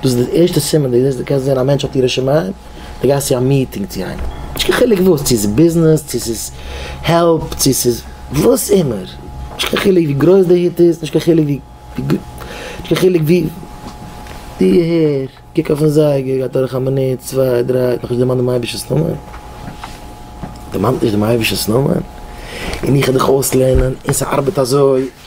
דאס איז די ערשטע סימן די זעסט די קענסט זען א מענטש האט יראת שמים די גייסט צו א מיטינג צו איינעם נישט קיין חילוק וואס צו ס'איז ביזנעס צו ס'איז העלפ צו ס'איז וואס אימער נישט קיין חילוק ווי גרויס די היט איז נישט קיין חילוק ווי נישט קיין חילוק ווי די הער קוק אויפן זייגער גייט אדורך א מינוט צוויי דריי נאכנישט דערמאנט דעם אייבישטער'ס נאמען דערמאנט נישט דעם אייבישטער'ס נאמען און איך העל דיך אויסלערנען און ס'ארבעט אזוי.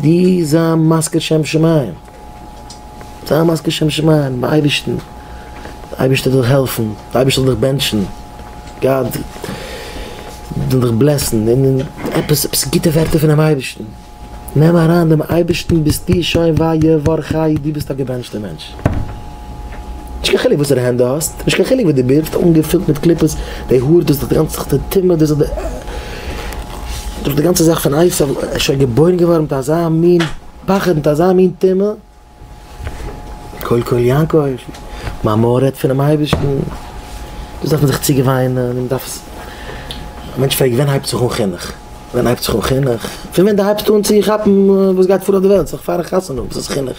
די זיי מזכיר שם שמים, זיי מזכיר שם שמים דעם אייבערשטן, דער אייבערשטער זאל דיך העלפן, דער אייבערשטער זאל דיך בענטשן, גאט זאל דיך בלעסן, און עפעס עפעס גוטע ווערטער פונעם אייבערשטן, נעם אריין דעם אייבערשטן ביסטו שוין וויי י ור ח י דו ביסט א געבענטשטער מענטש. נישט קיין חילוק וואסערע הענט דו האסט, נישט קיין חילוק ווי דו בירסט, אנגעפילט מיט קליפות, די האר, דו זיך די גאנצע זאך די טומאה, דו זיך די דורך די גאנצע זאך פון אייפעל, ער איז שוין געבוירן געווארן מיט אזא מין פחד, מיט אזא מין טומאה, קול קול יעקב, מיין מויל רעדט פונעם אייבערשטן, דאס דארף מען זיך צוגעוויינען, מען דארף עס, א מענטש פרעגט ווען הייבט זיך אן חינוך? ווען הייבט זיך אן חינוך? פון ווען דו הייבסט אן צו כאפן וואס גייט פאר אויף די וועלט, זיך פארן חתונה, וואס איז חינוך?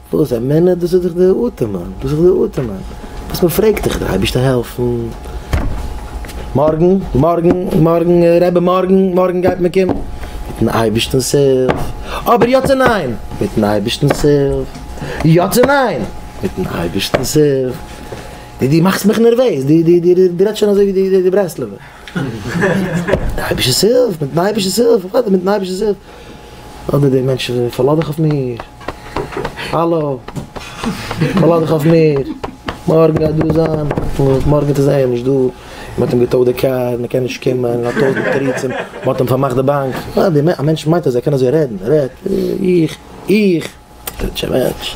וואס א מנין? דאס איז דאך די אטעמען, דאס איז די אטעמען וואס מען פרעגט דיך, די אייבערשטער העלפן, מארגן, מארגן, מארגן, רבי מארגן, מארגן גייט מען קומען, מיטן אייבערשטענ'ס הילף, אבער יא צו ניין? מיטן אייבערשטענ'ס הילף, יא צו ניין? מיטן אייבערשטענ'ס הילף, די די מאכסט מיך נערוועז, די די די די רעדסט שוין אזוי ווי די די ברסלב'ע, מיטן אייבערשטענ'ס הילף, מיטן אייבערשטענ'ס הילף, וואס מיטן אייבערשטענ'ס הילף? אדער די מענטשן זענען פארלאז דיך אויף מיר, האלא, פארלאז דיך אויף מיר, מארגן גייט דא זיין, מארגן איז ער נישט דא, מען האט אים געטוישט די קאר, מען קען נישט קומען, מען האט טויזנט תירוצים, מען האט אים פארמאכט די באנק, א מענטש מיינט אז ער קען אזוי רעדן, רעדט, איך, איך, טשעבעטש.